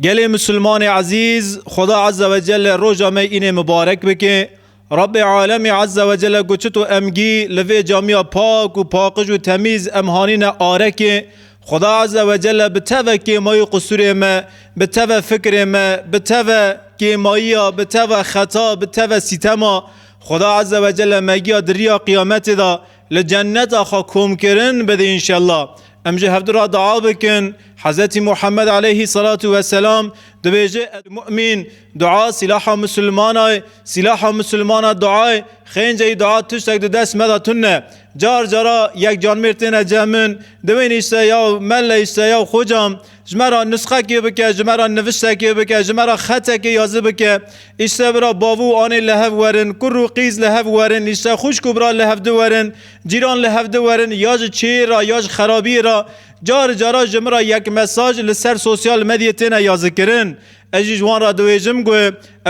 Gelê Musulmanê Ezîz, Xweda Azze ve Celle roja me înê mibarek bike. Rabbê Alemî Azze ve Celle ku çito em gî li vê camiya pak û paqij û temîz em hanîne arekê, Xweda Azze ve Celle bi teve kêmayî qusûrê me, bi teve fikirê me, bi teve kêmayiya, bi teve xeta, bi teve sîtema, Xweda Azze ve Celle me giya di riya qiyametê de, Li cenneta xwe komkirin bidî înşella. Em ji hevdu re dua bikin. Hezretî Muhammed aleyhî selatu weselam dibêje ey mumîn dua sîlaha misilmana ye, sîlaha misilmana dua ye, xênceyî dua tiştek di dest me de tune. Car cara yek canmêr têne cem min, diwênîşte ya melleyîşte ya xocam. Ji me re nusxekê bike, ji me re niviştekê bike, ji me re xetekê ya zi bike. Îşte bira bav û anê li hev werin, kur û qîz li hev werin, îşte xwişk û bira li hevdi werin, cîran li hevdi werin, ya ji çêyê re ya ji xerabiyê re. Cari cara ji min re yek mesaj li ser sosyal medyê têne yazikirin. Ez jî ji wan re diwêjim ku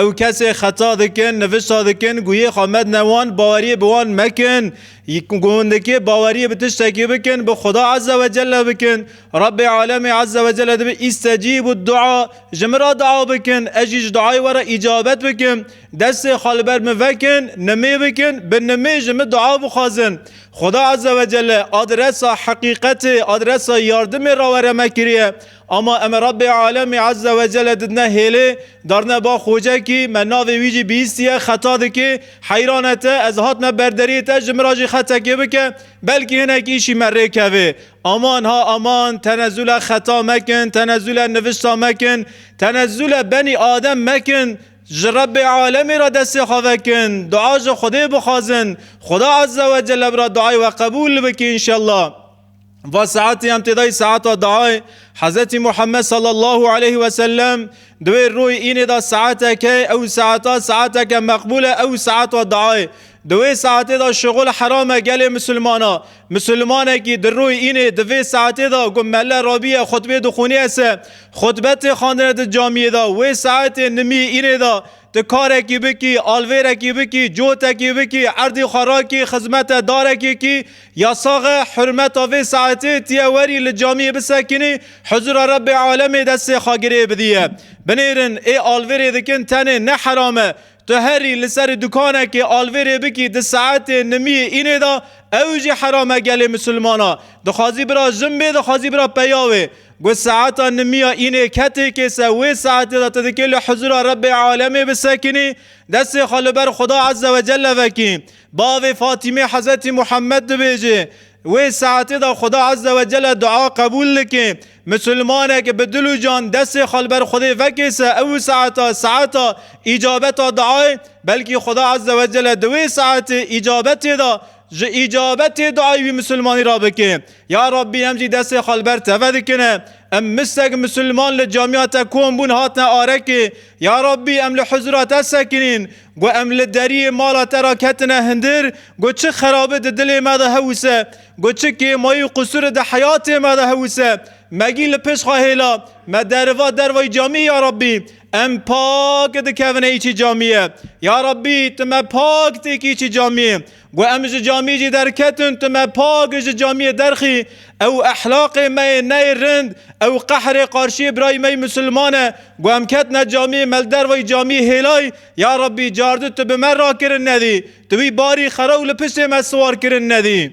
ew kesê xeta dikin, nivişta dikin ku yê xwe medine wan, baweriyê bi wan mekin. Ku hindikê baweriyê bi tiştekî bikin, bi Xweda Ezze ve Celle bikin. Rebbê Alemê Ezze ve Celle dibe îstecîbûd dua, ji min re dua bikin, ez jî ji duayê we re îcabet bikim. Destê xwe li ber min vekin, nimê bikin, bi nimê ji min dua bixwazin. Xweda Ezze ve Celle adresa heqîqetê, adresa yardimê re were me kiriye. Ama em Rabbê Alemî Ezze ve Celle didine hêlê, darine ba xocekî, me navê wî jî bihîstiye, xeta dike, heyran e te, ez hatime ber deriyê te ji min re jî xetekê bike, belkî hinek îşî me rê keve. Aman ha aman, tenezule xeta mekin, tenezule nivişta mekin, tenezule benî Adem mekin, ji Rabbê Alemî re destê xwe vekin, dua ji Xwedê bixwazin, Xweda Ezze ve Celle bi re duayê we qebûl bike înşella. Va saetê em tê dayî saeta dayê Hezretî Muhammed sallallahu aleyhi ve sellem di wê royê înê de saeteke ew saeta saeteke meqbûl e ew saeta dayê di wê saetê de şixul heram e gelê misilmana misilmanekî di royê înê di vê saetê de ku melle rabiye xutbê dixwîniye se xutbetê xandine di camiyê de wê saetê nimiyê înê de di karekî bikî alvêrekî bikî cotekî bikî erdê xwe rakî xizmete darekê kî Ya sax e, hurmeta vê saetê tu yê werî li camiyê bisekinî, huzura Rebbê alemê destê xwe girê bidîye. Binêrin ê alvêrê dikin tenê ne heram e. Tu herî li serî dukanekê alvêrê bikî di saetê nimiyê înê de ew jî heram e gelê misilmana. Dixwazî bira jin bê dixwazî bira peya wê. Got saeta nimiya înê ketê kê se wê saetê de tu dikê li huzura Rebbê alemê bisekinî, destê xwe li ber Xuda Ezzewecelle vekî. Bavê Fatîmê Hezetî Muhammed dibêje, Wê saetê de Xuda Ezze we Celle dua qebûl dike. Misilmaneke bi dil û can destê xwe li ber Xwedê vekêse ew saeta saeta îcabeta duayê, belkî Xuda Ezze we Celle di wê saetê îcabetê de ji îcabetê duayê wî misilmanî re bike. Ya Rabbî em jî destê xwe li ber teve dikine. Em mistek misilman li camiya te kom bûn hatine arekê. Ya Rabbî em li huzura te sekinîn, got em li deriyê mala te re ketine hindir, got çi xerabi di dilê me de hewise, got çi kêmayî û qusuri di heyatê me de hewise, megî li pişt xwe hêla, me deriva dervayî camî ya Rabbî, em pak dikevine îçî camîye. Ya Rabbî tu me pak têkî îçî camîyê. Got em ji camî jî derketin, tu me pak ji camiyê derxî, ew ehlaqê me yê neyê rind, ew qehrê qarşiyê birayê me yê misilman e. Got em ketine camiyê, me li dervayî camiyê hêlay, ya Rabbî, cardi tu bi me rakirin nedî, tu wî barî xera û li piştê me siwar kirin nedî.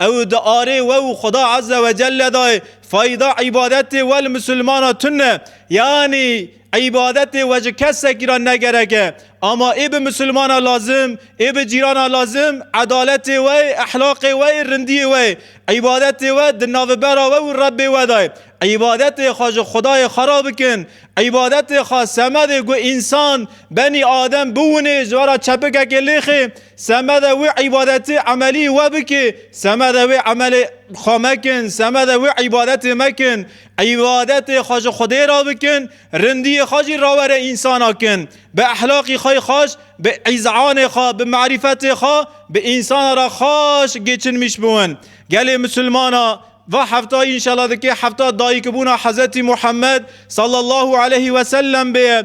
Ew di arê we û Xuda Azze ve Celle de fayda îbadetê we li misilmana tune. Yanî îbadetê we ji kesekî re negereke. Ama ê bi misilmana lazim, ê bi cîrana lazim, edaletê we ye, ehlaqê we ye, rindiyê we ye. Îbadetê we di navbera we û Rebbê we de ye. Îbadetê xwe ji Xudayê xwe re bikin. Îbadetê xwe semedê ku însan, benî adem, biwinê, ji we re çepikekê lêxê, Semede wê îbadetê emelî we bike, semede wê emelê xwe mekin, semede wê îbadetê mekin. Îbadetê xwe ji Xwedê re bikin, rindiyê xwe jî rawere însana kin. Bi ehlaqî xwe xweş, bi îzanê xwe, bi marîfetê xwe bi însana re xweş gêçinmîş biwin. Gelê misilmana va heftayî înşela dike hefta dayikbûna Hezretî Muhammed sallallahu aleyhî weselem bê.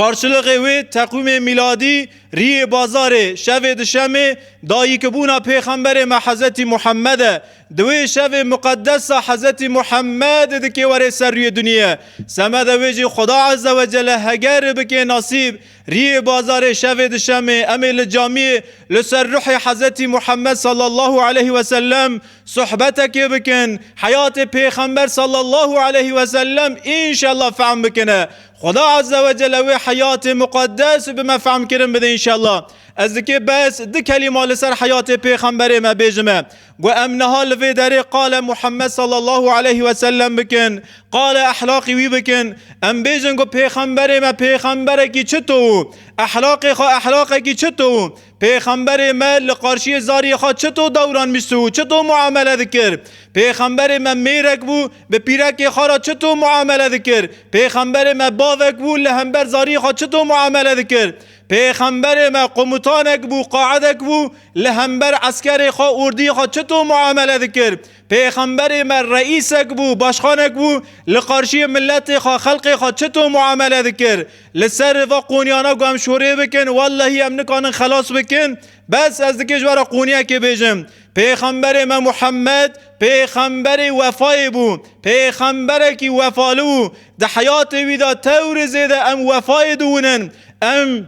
Qarşiliqê wê teqwîmê mîladî, rîyê bazarê, şevê duşemê, dayikibûna pêxemberê me Hezetî Muhemmed e. Di wê şevê muqeddes de Hezetî Muhemmed dikê were ser rûyê dinyê. Semede wê jî Xweda Ezzewecelle heger bike nasîb, rîyê bazarê, şevê duşemê, em ê li camiyê li ser ruhê Hezetî Muhemmed Sallallahu Eleyhi Wesellem, Sohbetekê bikin, heyatê Pêxember sallallahu aleyhi ve sellem înşallah fehm bikine. Xweda azze ve celle wê heyatê muqeddes bi me fehmkirin bide înşallah. Ez dikê bes di kelîma li ser heyatê Pêxemberê me bêjime. Got em niha li vê derê qale Muhammed sallallahu aleyhi ve sellem bikin, qale ehlaqî wî bikin. Em bêjin ku Pêxemberê me pêxemberekî çito û ehlaqê xwe ehlaqekî çito û Pêxemberê me li qarşiyê zariyê xwe çito dewran bîst û çito muamele dikir? Pêxemberê me mêrek bû, bi pîrekê xwe re çito muamele dikir? Pêxemberê me bavek bû, li hember zariyê xwe çito muamele dikir? Pêxemberê me qomutanek bû, qaedek bû, li hember eskerê xwe, ordiyê xwe çito muamele dikir? Pêxemberê me reîsek bû, başxanek bû, li qarşiyê miletê xwe, xelkê xwe çito muamele dikir. Li ser va qoniyana ku em şorê bikin, wellehî em nikarin xelas bikin. Bes ez dikê ji we re qoniyekê bêjim. Pêxemberê me Muhammed, pêxemberê wefayê bû. Pêxemberekî wefalu bû. Di heyatê wî de tewr zêde em wefayê dûnin. Em.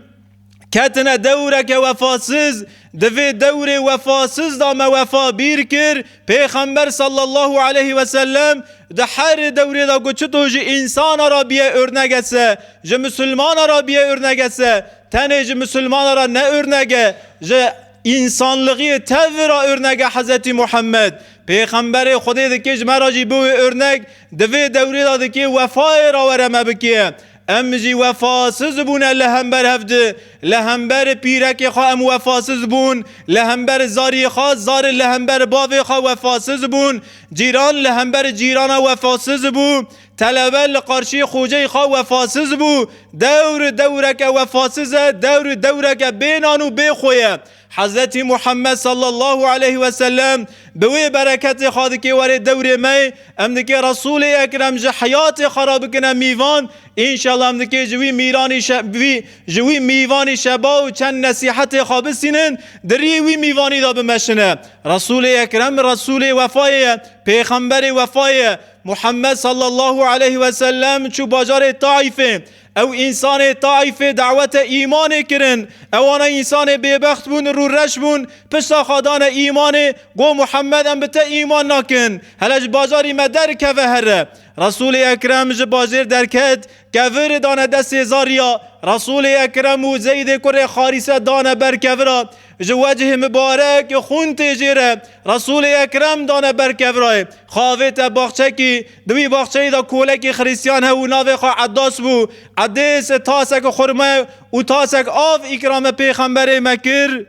ketine dewreke wefasiz di vê dewrê wefasiz da me wefa bîr kir pêxember sallallahu aleyhi ve sellem di herê dewrê da ku çi to ji însana ra biye örnege se ji misilmana ra biye örnege se tenê ji misilmana ra ne örnege ji însanlixiyê tevir ra örnege Hezretî Muhammed pêxemberê Xwedê dikê ji me ra jî biwê örnek di vê dewrê da dikê wefayê ra were me bikê Em jî wefasiz bûne li hember hev di. Li hember pîrekê xwe em wefasiz bûn, li hember zarî xwe, zar li hember bavê xwe wefasiz bûn, cîran li hember cîrana wefasiz bû, telebe li qarşî xoceyê xwe wefasiz bû. Dewr dewreke wefasiz e, dewr dewreke bê nan û bê xwe ye. Hezretî Muhammed sallallahu aleyh ve sellem bi wê bereketê xwe dike were dewrê me, em dike Resûlê Ekrem ji heyatê xwe re bikine mîvan, înşallah em dike ji wî mîranî wî ji wî mîvanî şeba û çend nesîhetê xwe bisînin di rîyê wî mîvanî de bimeşine. Resûlê Ekrem Resûlê wefayê ye, pêxemberê wefayê ye. Muhammed sallallahu aleyh ve sellem çû bajarê Taîfê. Ew însanê Taîfê dawete îmanê kirin. Ewana însanê bêbext bûn û rûreş bûn. Pişta xwe dane îmanê, got, Muhemed em bi te îman nakin. Hele ji bajarî me der keve here. Resûlê Ekrem ji bajêr derket, kevirê dane destê Zarîya. Resûlê Ekrem û Zeydê kurê Xarîse dane ber kevira. Ji wecihê mibarek xûn tê jê re Resûlê Ekrem dane ber kevrayê. Xavê te baxçekî. Di wî baxçeyî de kolekî xirîsyan hebû navê xwe Eddas bû. Edês tasek xurme û tasek av îkrame pêxemberê me kir.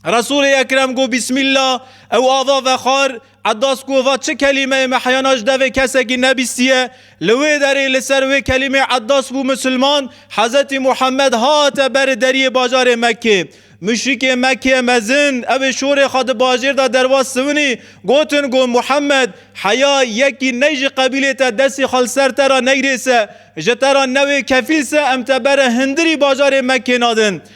Resûlê Ekrem got Bîsmîllah ew ava vexwar. Eddas Kova çi kelîmeyê meheyana ji devê kesekî nebîstiye, li wê derê li ser wê kelîmê Eddas bû misilman, Hezretî Muhammed hate ber ê deriyê bajarê Mekkê. Muşrîkê Mekkê mezin ew ê şorê xwe di bajêr de derwas siwinî, gotin go Muhammed, heya yekî ney ji qebîlê te destê xwe li ser te re neyrê se, ji te re newê kefîl se em te bere hindirî bajarê Mekkê nadin.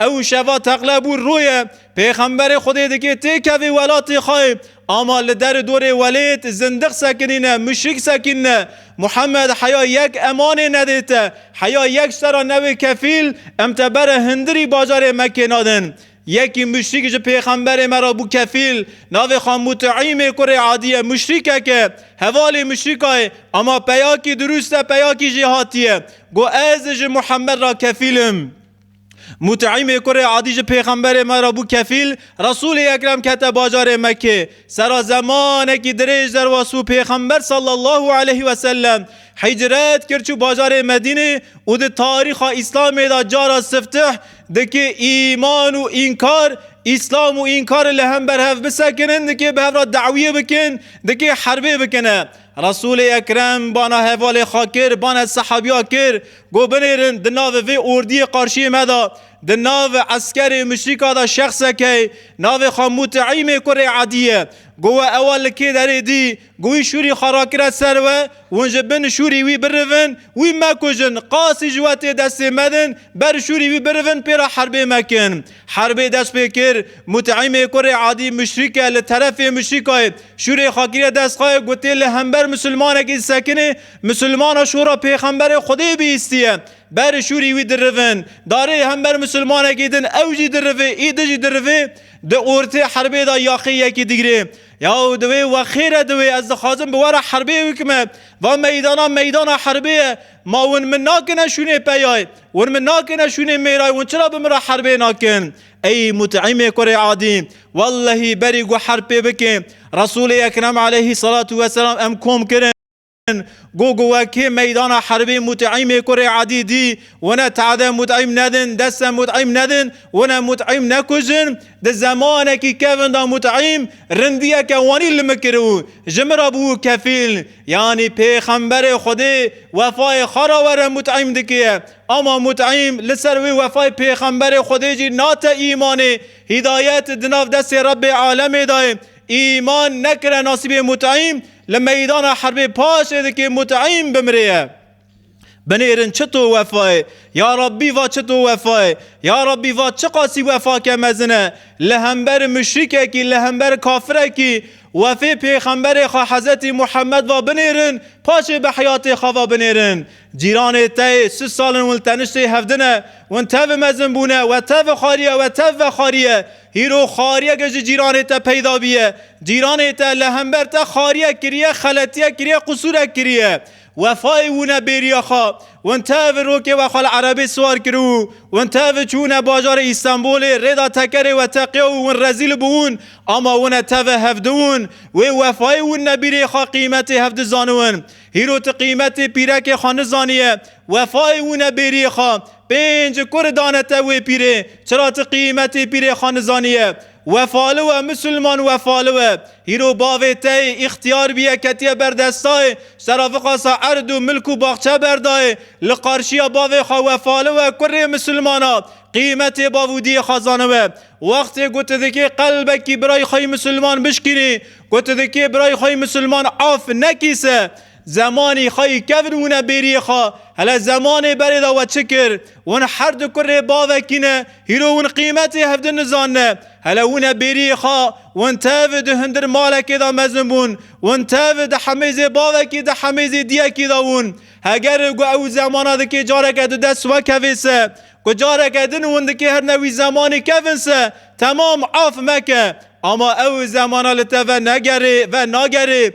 Ew şeva teqle bû rûye, pêxemberê Xwedê dike têkevê welatê xwe, ama li derê dorê welêt zindiq sekinîne, muşrik sekînne. Muhemed heya yek emanê nedê te, heya yek sera newê kefîl, em te bere hindirî bajarê Mekkê nadin. Yekî muşrik ji pêxemberê me re bû kefîl, navê xwe Mut'îmê kurê Adî ye, muşrikek e, hevalê muşrika ye, ama peyakî dirûst e, peyakî jê hatiye. Got ez ji Muhemed re kefîl im. Mut'îmê kurê Adî ji pêxemberê me re bû kefîl, Resûlê Ekrem kete bajarê Mekkê. Sera zemanekî dirêj derwest bû pêxember sallallahu aleyh ve sellem hicret kir çû bajarê Medînê û di tarîxa Îslamê de cara siftih dike îman û înkar, Îslam û înkar li hember hev bisekinin, dike bi hev re dawiyê bikin, dike herbê bikine. Resûlê Ekrem bana hevalê xwe kir, bana sehabîya kir, got binêrin di navê vê ordîyê qarşîyê me de, di nav eskerê muşrîka de şexseke ye, navê xwe Mut'îmê kurê Edî ye. Got we ewa li kê derê dî? Got wî şûrî xwe rakire ser we, hûn ji bin şûrî wî birivin, wî mekujin, qasî ji we tê destê medin, ber şûrî wî birivin pê re herbê mekin. Herbê dest pê kir, Mut'imê kurê Adî muşrîke li terefê muşrîkayê şûrê xakirê dest xayê gotê li hember musulmanekî sekinê, musulmana şûra pêxemberê Xwedê bihîstiye. Berê şûrî wî dirivin. Darê hember musulmanekî din ew jî dirivê î di jî dirivê. Di ortê herbê de yaqê yekî digirê. Yaw di wê we xêr e di wê ez dixwazim bi we re herbê wikime. Va meydana meydana herbê ye. Ma win min nakine şûnê peyayê. Wan min nakine şûnê mêrayê wan çira bi min re herbê nakin? Ey Mut'imê kurê Adî, wellehî berî got herb pê bike, Resûlê Ekrem aleyhî selatû weselam em kom kirin. Got ku wekê meydana herbê Mut'imê kurê Adî dî, wana tade Mut'im nedin, deste Mut'im nedin, wana Mut'im nekujin, di zemanekî kevin da Mut'im rindiyeke wanî li min kiribû, ji min re bûbû kefîl. Yanî pêxemberê Xwedê wefayê xwe re were mut'îm dikiye. Ama mut'îm li ser wê wefayê pêxemberê Xwedê jî nate îmanê. Hîdayet di nav destê Rebbê alemê de ye. Îman nekire nasîbê mut'îm li meydana herbê paşê dikê mut'îm bimrê ye. Binêrin çi to wefayê, ya Rabbî va çi to wefayê, ya Rabbî va çi qasî wefake mezin e, li hember muşrîkekî, li hember kafirekî wefê pêxemberê xwe Hezretî Muhemmed va binêrin, paşê bi heyatê xwe va binêrin. Cîranê te yê sis sal in win li teniştê hev din e, win tevî mezin bûne, we tevî xwarî ye, we tevî vexwarî ye. Hîro xwariyeke ji cîranê te peyda bîye. Cîranê te li hember te xwariyek kiriye, xeletiyek kiriye, qusûrek kiriye. Wefayê wune bêriya xwe wente evi rokê we xwe li erebê siwar kir û wente evi çûne bajarê Îstanbûlê rêda tekerê we teqiya û win rezîl bûn ama wune teve hevdiwin wê wefayê wunne bîrê xwe qîmetê hevdi zaniwin hîro ti qîmetê pîrekê xwe nizaniye wefayê wune bêriê xwe pênc kuri dane te wê pîrê çira ti qîmetê pîrê xwe nizaniye Wefalı we Musulman wefalı we hîro bavê te yê îxtiyar biye ketiye ber desta yê sera vixasa erd û milk û baxçe berdayê li qarşiya bavê xwe wefalı we kurê Musulmana qîmetê bav û diyê xwe zanibe wextê ku tu dikê qelbekî birayê xweyî Musulman bişkînî ku tu dikê birayê xweyî Musulman af nekî se Zemanî xwe yî kevn wine bêriyê xwe. Hele zemanê berê de we çi kir? Win her du kurê bavekî ne, hîro win qîmetê hev din nizanine. Hele wine bêriyê xwe. Win tev di hundir malekê de mezin bûn. Win tev di hemêzê bavekî di hemêzê diyekî de wûn. Heger gu ew zemana dikê careke di dest we kevê se. Ku careke din win dikê her ne wî zemanî kevin se. Temam af meke. Ama ew zemana li te ve negerê, ve nagerê.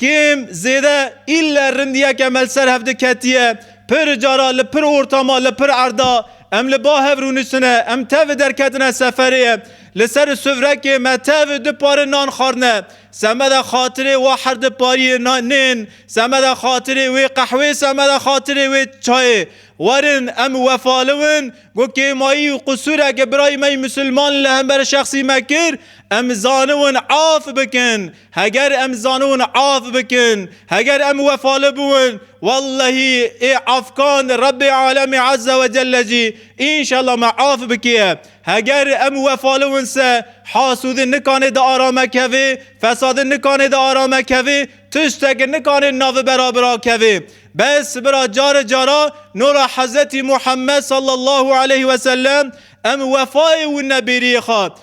Kêm zêde îlle rindiyeke me li ser hev diketiye. Pir cara li pir ortama, li pir erda em li ba hev rûniştine. Em tevî derketine seferê ye. Li ser sufrekê me tevî du pare nan xwarine. Semeda xatirê wa herdu pariyê nên, semeda xatirê wê qehwê, semeda xatirê wê çayê. Werin em wefaliwin. Ku kêmayî û qusûreke birayê me yê Musilman li hember şexsî me kir, em zaniwin af bikin. Heger em zanûn af bikin, heger em wefali bûn, wellehî ê afkan Rebbê Alemê Eze we Celle jî înşella me af bikiye. Heger em wefali win se hasûdi nikanê di arame kevê, fesadi nikanê di arame kevê, tişteki nikanê navi bera bira kevê. Bes bira cari cara nora Hezetî Muhammed Sallallahu Aleyhi Wesellem em wefayê wina bêriyê xwe